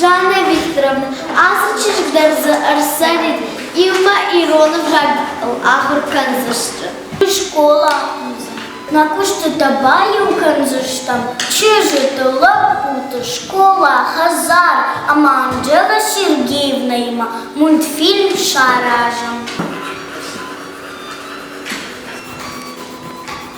Жаннӕ Викторовна, ацы чызг дӕр дзы ӕрцӕрид, иумӕ ирон ӕвзагыл ахуыр кӕндзысты. Скъола. Мӕ куыстытӕ баиу кӕндзыстӕм чызджыты, лӕппуты, скъола, хӕдзар ӕмӕ Анджелӕ Сергеевнаимӕ мультфильм саразын.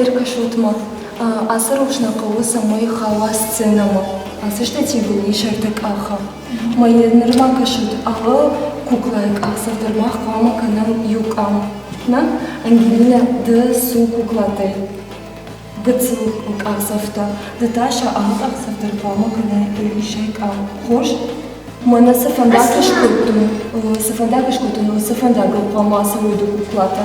Ӕркӕсут-ма, ацы рухс нӕ хъӕуы, цӕмӕй хауа сценӕмӕ. Ацы статьйыл ис ӕртӕкъахы. Мӕйӕ нырма кӕсут, алы куклайы къахдзӕф дӕр мах хъуамӕ кӕнӕм иу къам. Нӕ, Ангелина, ды цу куклатӕй. Гыццыл къахдзӕфтӕ. Ды та сӕ алы къахдзӕф дӕр хъуамӕ кӕнай исӕй къам. Хорз? Мӕнӕ цы фӕндаг скодтой, цы фӕндаг скодтой, цы фӕндагыл хъуамӕ ацӕуой ды куклатӕ?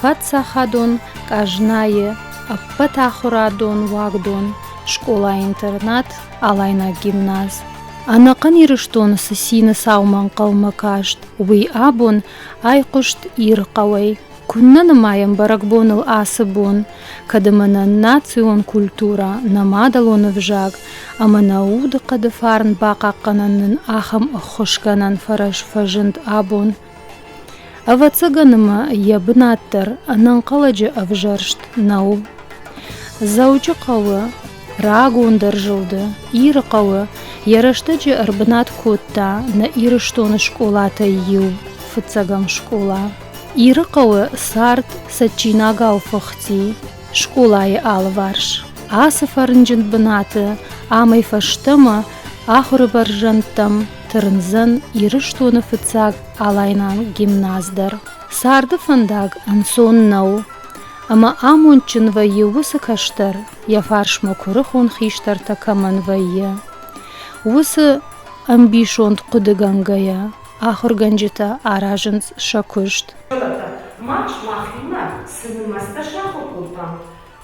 паддзахадон къазнайы ӕппӕтахуырадон уагдон, скъола-интернат, алайнаг гимназ. Ӕнӕхъӕн Ирыстоны цы цины цаума ӕнхъӕлмӕ каст, уый абон айхъуыст Иры хъӕуӕй. Куыннӕ нымайӕм бӕрӕгбоныл ацы бон, кӕд ӕмӕ нӕ национ культурӕ, нӕ мадӕлон ӕвзаг ӕмӕ нӕ удыхъӕды фарн бахъахъхъӕнӕн нын ахӕм ӕххуысгӕнӕн фӕрӕз фӕзынд абон, Ӕвӕццӕгӕн ма йӕ бынат дӕр ӕнӕнхъӕлӕджы ӕвзӕрст нӕу. Дзӕуджыхъӕуы рагондӕр зылды Иры хъӕуы йӕ рӕстӕджы ӕрбынат кодта нӕ Ирыстоны скъолатӕй иу фыццӕгӕм скъола. Иры хъӕуы цард цӕджджинагау фӕхти скъолайы алыварс. Ацы фӕрнджын бынаты амӕй фӕстӕмӕ ахуыры бӕрзӕндтӕм тырндзӕн Ирыстоны фыццаг алайнаг гимназ дӕр. Царды фӕндаг ӕнцон нӕу, ӕмӕ амондджын вӕййы уыцы кӕстӕр, йӕ фарсмӕ куырыхон хистӕртӕ кӕмӕн вӕййы. Уыцы ӕмбисонд хъуыдыгӕнгӕйӕ ахуыргӕнджытӕ аразынц сӕ куыст. Фӕлӕ та мах мӕхимӕ цы нымӕцтӕ сахуыр кодтам,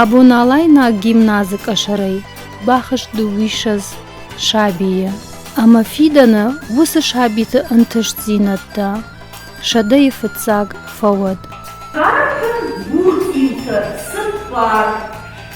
Абоналайнаг гимназы къӕсӕрӕй бахызт дыууиссӕдз сабийы, ӕмӕ фидӕны уыцы сабиты ӕнтыстдзинӕдтӕ сӕдӕйы фыццаг фӕуӕд. Картын гур-иутӕ, цыппар.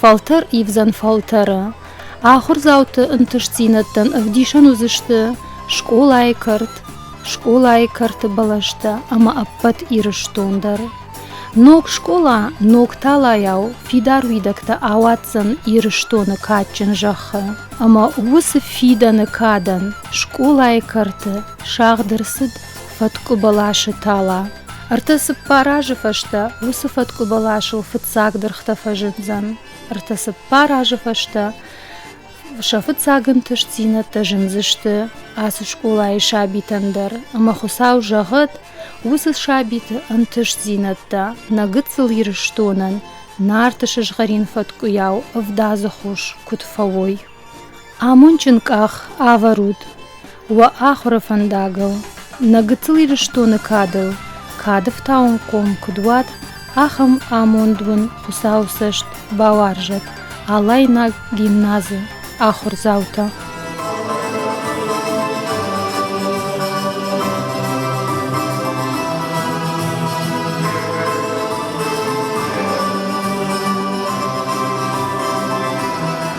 Фӕлтӕр ивдзӕн фӕлтӕры. Ахуырдзауты ӕнтыстдзинӕдтӕн ӕвдисӕн уыдзысты скъолайы кӕрт, скъолайы кӕрты бӕлӕстӕ ӕмӕ ӕппӕт Ирыстон дӕр. Ног скъола ног талайау фидар уидӕгтӕ ауадздзӕн Ирыстоны кадджын зӕххы ӕмӕ уыцы фидӕны кадӕн скъолайы кӕрты сагъд ӕрцыд Фӕткъуыбыласы тала. Ӕртӕ цыппар азы фӕстӕ уыцы фӕткъуыбыласыл фыццаг дыргътӕ фӕзындзӕн. Ӕртӕ цыппар азы фӕстӕ сӕ фыццаг ӕнтыстдзинӕдтӕ зындзысты ацы скъолайы сабитӕн дӕр, ӕмӕ Хуыцау зӕгъӕд, уыцы сабиты ӕнтыстдзинӕдтӕ нӕ гыццыл Ирыстонӕн Нарты сызгъӕрин фӕткъуыйау ӕвдадзы хос куыд фӕуой. Амондджын къах ӕвӕрут уӕ ахуыры фӕндагыл, нӕ гыццыл Ирыстоны кадыл, кады фтауынхъом куыд уат, ахӕм амонд уын Хуыцауы цӕст бауарзӕт, алайнаг гимназы ахуырдзаутӕ!